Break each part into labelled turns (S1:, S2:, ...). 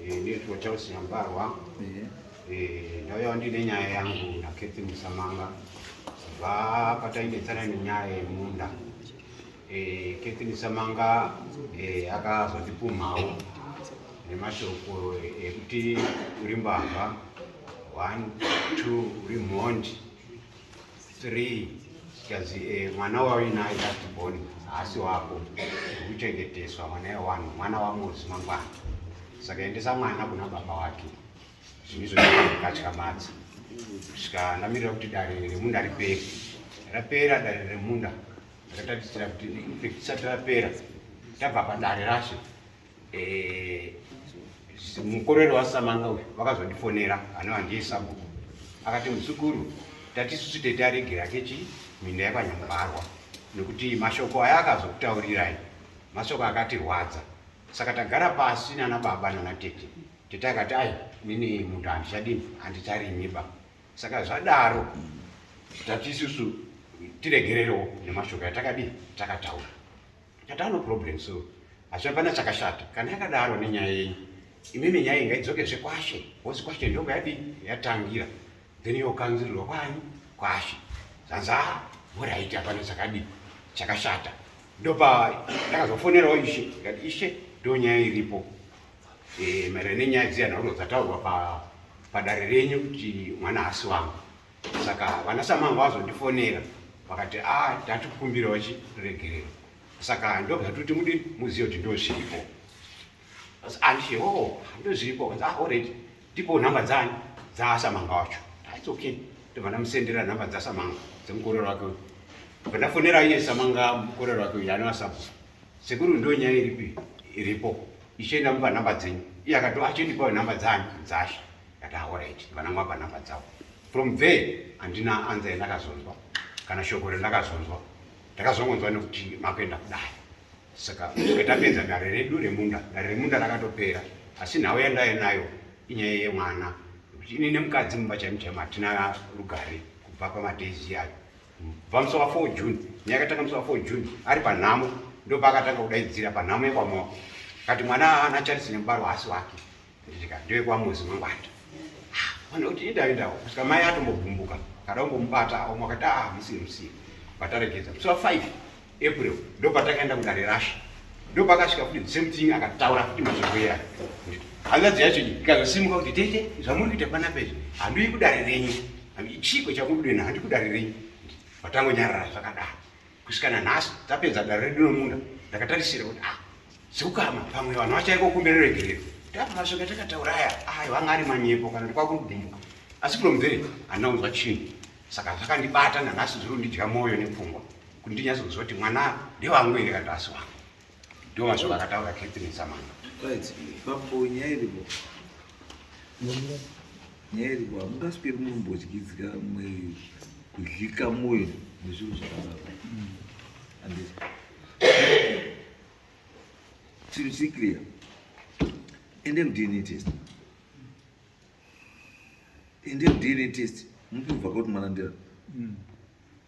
S1: Eh, ndinoitwa Charles Nyambarwa. Eh. Eh, ndauya ndine nyaya yangu naKethy Musamanga kubva patainetsana nenyaya yemunda. Kethy Musamanga akazondipumhawo nemashoko ekuti uri mbavha one two uri mhondi three because eh, mwana wauinaye just born haasi wako ukuchengeteswa mwana yewanhu mwana wamozi mangwana saka endesa mwana kuna baba wake zvinhu izvo zvikatya madzi kusvika ndamirira kuti dare remunda ripere rapera dare remunda rakatatisira kuti risati rapera tabva padare rashe Eh, mukorero wasamanga uyu vakazondifonera ano handiye sabhuku akati muzukuru tatisusu tete aregera kechi minda yakwanyambarwa nekuti mashoko aya akazokutaurirai mashoko akatirwadza saka tagara pasi nana baba nana tete tete akati ai nini munhu handichadini handicharimiba saka zvadaro tatisusu tiregererewo nemashoko yatakadii takataura Chata no problem so. Asi pana chakashata. Kana akadaro nenyaya yenyu. Imimi nyaya inga idzoke zvekwashe. Wozi kwashe ndoga yadi yatangira. Then yo kanzirwa kwanyu kwashe. Zanza bora ita pana chakadi. Chakashata. Ndopa ndakazofonera ishe. Ngati ishe ndo nyaya iripo. Eh, mara nenyaya dziyana unodzataurwa pa padare renyu kuti mwana hasi wangu. saka vana samangu vazondifonera vakati a ah, tati kukumbirawo chiregerero saka ndobva toti mudi muzive kuti ndozviripo andishe o oh, ndozviripo kanzi ah already ndipo nhamba dzani dzaasamanga wacho its okay ndobva ndamusendera nhamba dzasamanga dzemukorero wake uyu bva ndafonera iye samanga mukorero wake uyu anova sabu sekuru ndo nyaya iripi iripo ichienda mupa nhamba dzenyu iye akati achindipawo nhamba dzanyu dzasha ndati aorit ah, vanangwapa nhamba dzavo from there handina anza yandakazonzwa kana shoko rendakazonzwa ndakazongonzwa nekuti makuenda kudai saka kusvika tapedza dare redu remunda dare remunda rakatopera asi nhau yandaive nayo inyaya yemwana nekuti ini nemukadzi mumba chaimo chaimo hatina rugare kubva pamadaizi ayo kubva musi wa 4 june nyaya yakatanga musi wa 4 june ari panhamo ndopaakatanga kudaidzira panhamo yekwamoko kati mwana ana charisi nemubaro haasi wake Ndika ndiwe kwa muzi mangwanda. Vana kuti ita ita kusika mai atombogumbuka. Kada kumbomubata awo mwakati ah musi musi. Pataregedza musi wa 5 April ndo patakaenda kudare rasha. Ndo pakasvika kuti the same thing akataura kuti mazobwera. Hanzadzi yacho ikazosimuka kuti tete zvamuri kuita pana pezvi handiyi kudare renyu. Chiko chakudena handikudare renyu. Patangonyarara zvakadaro. kusvika nanhasi tapedza dare redu nomunda ndakatarisira kuti ah zukama pamwe vanhu vachaiko kumberi regerero tapa mashoko atakataura aya ayi vanga ari manyepo kana kuti kwakugumbuka asi kulomvere handina kunzwa chinhu saka zvakandibata nanhasi zviri kundidya mwoyo nepfungwa kuti ndinyatsonzwa kuti mwana ndewangu here kana kuti asi wangu Ndiwo mashoko akataura Catherine Samana. Right. Papo
S2: nyaya iripo. Nyaya iripo hamungasweri mumbodyidzika mwe kudlika moyo nezvinhu zvakadaro. Andis. Chiri chiri clear. Ende mudini test. Ende mudini test. Mupibva kuti mwana ndiyani. Mm.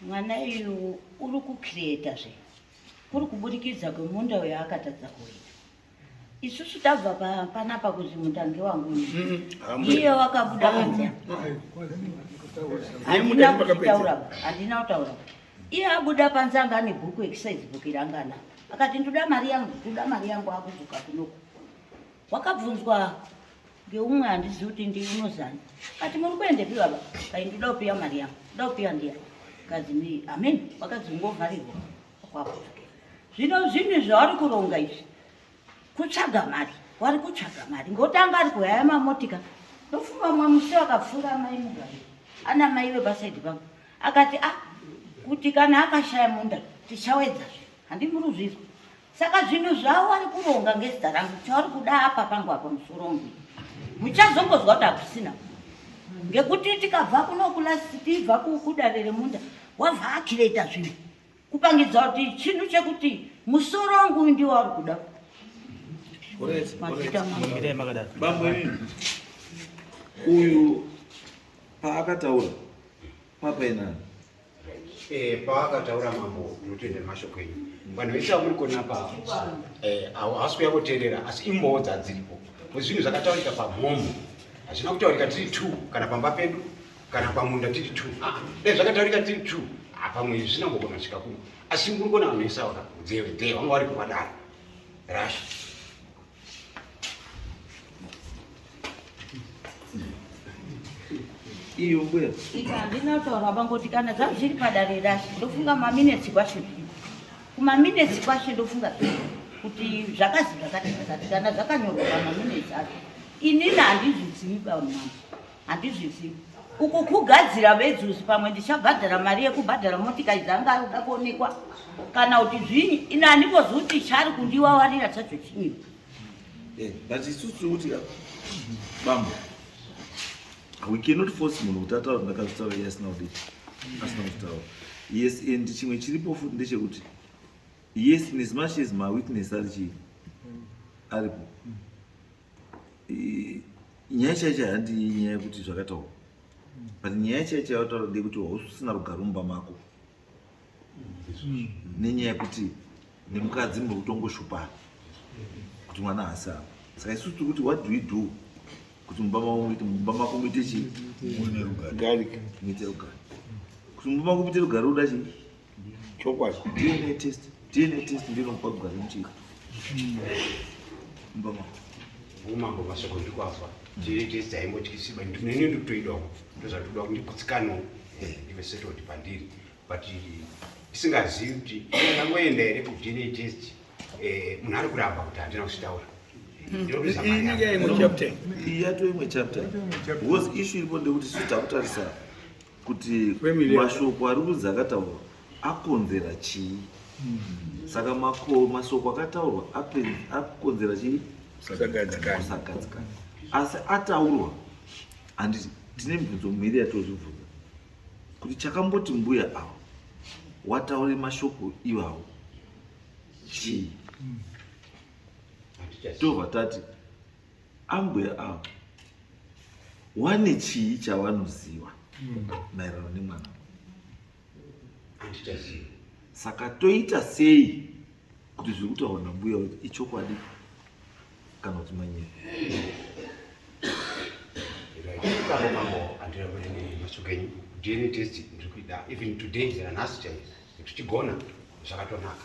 S3: mwana uyu uri kucreata zve kuri kuburikidza kwemunda uyo akatadza kuita isusu tabva panapa kuti mutangi wangu mm-hmm. iye wakabuda panze handina kutaura handina kutaura iye abuda panze anga ane bhuku exercise book irangana akati ndoda mari yangu ndoda mari yangu akudzoka kunoku wakabvunzwa ngeumwe handizivi kuti ndii unozani kati muri kuendepi baba kai ndida kupiwa mari yangu nda kupiwa ndiya kazi ni amen vakadzi ungovharirwa kwako zvino zvinhu zvavari kuronga izvi kutsvaga mari wari kutsvaga mari ngotanga ari kuhaya mamotika ndofunga mumwe musi vakapfuura amai mugari ana mai vepasaidi pangu akati a ah, kuti kana akashaya munda tichawedzazve handimuri uzvizwa Saka zvinhu zvavo vari kuronga ngezita rangu chavari kuda apa pangu apa musorongwi muchazongozwa kuti hakusina ngekuti tikabva kunokula tibva kudare remunda wabva akireta zvinhu kupangidza kuti chinhu chekuti musoro wangu uyu ndiwo ari kuda
S2: uyu paakataura papainani Eh,
S1: paakataura mambo ndinotenda mashoko enyu vanhu vese vamuri kuona pavo eh, havasi kuya kuteerera asi imbowo dzadziripo kuti zvinhu zvakataurika pamhomho hazvina kutaurika tiri t kana pamba pedu kana pamunda tiri t ah, dai zvakataurika tiri t ah, pamwe izvi zvina mbogona svika kuno asi muri kuona vanhu vese vakakudzeve dze vanga vari kuvadaro rasha
S2: iyo mbuya ita ndinotaura
S3: vangoti kana zvangu zviri padare rashe ndofunga maminetsi kwashe kumaminetsi kwashe ndofunga kuti zvakazi zvakati zvakati kana zvakanyorwa pamaminetsi acho inini handizvizivi bamama handizvizivi uku kugadzira vedzuzi pamwe ndichabhadhara mari yekubhadhara motikari dzanga ari kuda kuonekwa kana kuti zvinyi ini handimbozivi kuti chari kundiwawarira chacho chinyiwa eh,
S2: but isusu tiri kuti ah, bambo we cannot force munhu kuti ataura ndakazvitaura iye asina kudii asina kuzvitaura yes and chimwe chiripo futi ndechekuti yes in as much as mawitness ari chii aripo nyaya chaicha handi nyaya yekuti zvakataura but nyaya chaicha yataura ndeyekuti hausisina rugare mumba mako nenyaya yekuti nemukadzi muri kutongoshupana kuti mwana haasi ava saka isu tiri kuti what do we do kuti mumba mako muite mumba mako muite chii muite rugare kuti mumba mako muite rugare uda chii Chokwadi
S4: DNA test,
S2: DNA test ndinopa kugara muchika. Mbama. Umambo
S1: masoko ndikwazwa. DNA test haimbotyisi but ndinenge ndikutoidawo. Ndozvatoda kuti ndikutsikanwe. Eh, ndive settled pandiri. But isingazivi kuti ndangoenda here kuDNA test eh, munhu ari kuramba kuti handina kuzvitaura
S2: iyatoimwe chapter bcause ishu iripo ndekuti sitakutarisa kuti mashoko ari kunzi akataurwa akonzera chii hmm. saka mashoko akataurwa akonzera chii kusagadzikana asi ataurwa handiti tine mibvunzo miri yatozvibvunza kuti chakamboti mbuya avo wataure mashoko iwawo chii hmm. tobva tati Ambuya avo wane chii chavanoziva hmm. maererano nemwana andichaziva saka toita sei kuti zviri kutaura nambuya kuti ichokwadi kana kuti manyika
S1: dna test ndiri kuida even today nanhasi chaiyo tichigona zvakatonaka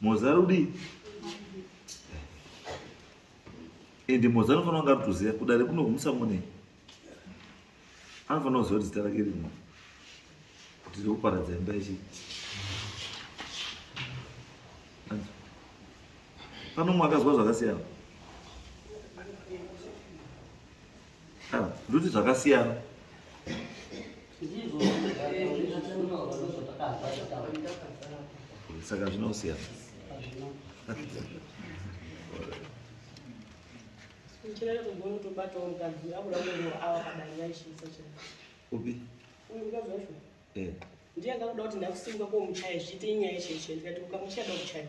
S2: Moza rudii? Ende Moza anofanira kunge arikutoziva kudare kuno kumusamonei. Anofanira kuziva kuti zita rake riri mwana. Kuti riri kuparadza imba yechii. Pano umwe akazwa zvakasiyana. Ah, Nduti zvakasiyana. saka zvinosiyana upi
S5: ndiye akakuda kuti ndakusimba komuchaya zviite inyaya chaichai ndikati ukamuchaya dakuchaya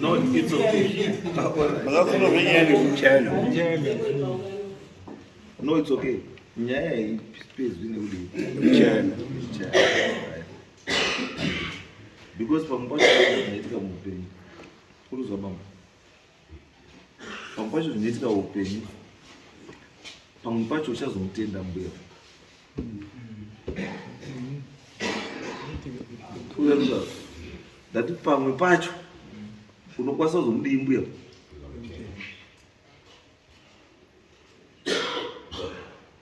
S2: No, it's okay. Makafuna kunyanya nekuchana. No, it's okay. Nyaya iyi pezwi nekudii? Kuchana. Because pamwe pacho zvinoitika muupenyu. Kuruzwa pamwe. Pamwe pacho zvinoitika upenyu. Pamwe pacho uchazomutenda mbuya. ndati pamwe pacho unokwanisa kuzomudii mbuya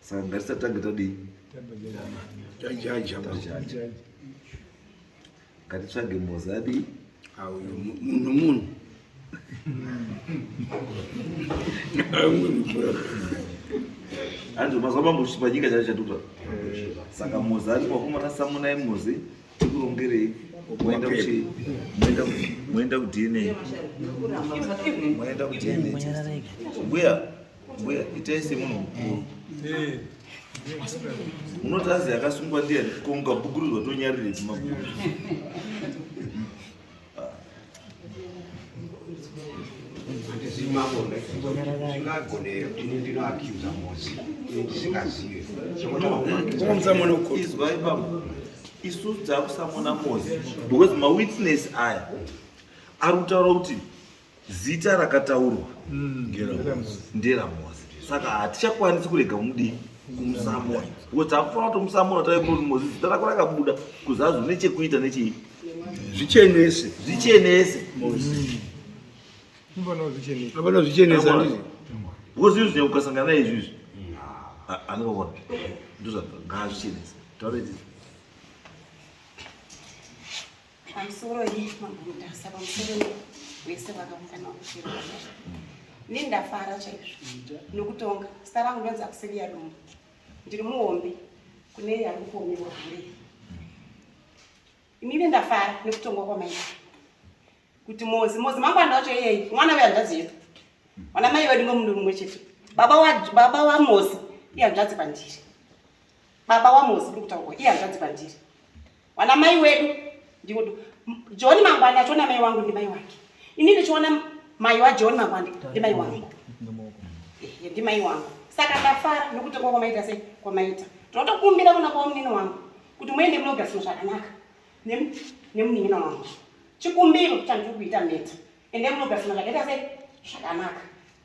S2: saka ngatisatange tadii tajaja Ngatitsvage mozadi. Auyo
S4: munhu
S2: munhu. Hanzi mazuva mambo chipanyika chacho chatuka. Saka mozadi kwakumana samunai mozi tikurongerei moenda kuchi moenda moenda kudini moenda kudini mbuya mbuya itai semunhu mukuru unoti azi akasungwa ndiani ko mukabukurudzwa tonyarire chimabhuku
S1: zvimagona zvingagoneyo ini ndinoakiuza mosi ini
S2: ndisingazive izwai baba isu dzakusamona mosi because mawitness aya ari kutaura kuti zita rakataurwa mm, nderamozi saka hatichakwanisi kurega kumudii kumusamura because takufanira kutomusamura tave kuti mozi zita rako rakabuda kuzazi une chekuita nechii zvichenese zvichenese
S4: apana zvichenese andii because izvi
S2: ukasangana naye izvizvi anokakona ndozvangazvichenese tauretizi
S5: pamusoro iyi magurutasa pamusoro wese vakaungana kushira ne ndafara chaizvo nokutonga zita rangu ndonzi akusiviya dumbu ndiri muhombe kune yari kuomerwa hure inini ndafara nekutongwa kwamaita kuti mozi mozi mangwana wacho iyeyi mwana wehanzvadzi yedu mwana mai wedu ngomunhu mumwe chete baba wamozi ihanzvadzi kwandiri baba wamozi kuri kutaurwa iye hanzvadzi kwandiri wana mai wedu ndivo john mangwani achiona mai wangu ndimai wake ini ndichiona mai wajohn mangwani ndimai wangu ndimai wangu saka ndafara nekuti kwa kwamaita sei kwamaita tinotokumbira kuna kwa munini wangu kuti muende munogariswa zvakanaka nemunin'ina wangu chikumbiro chandiri kuita meta ende munogariswa zvakaita sei zvakanaka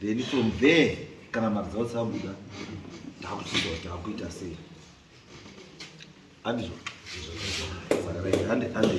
S2: then from there kana mari dzavo dzabuda takuchiita kuti takuita sei andizvo saka hande hande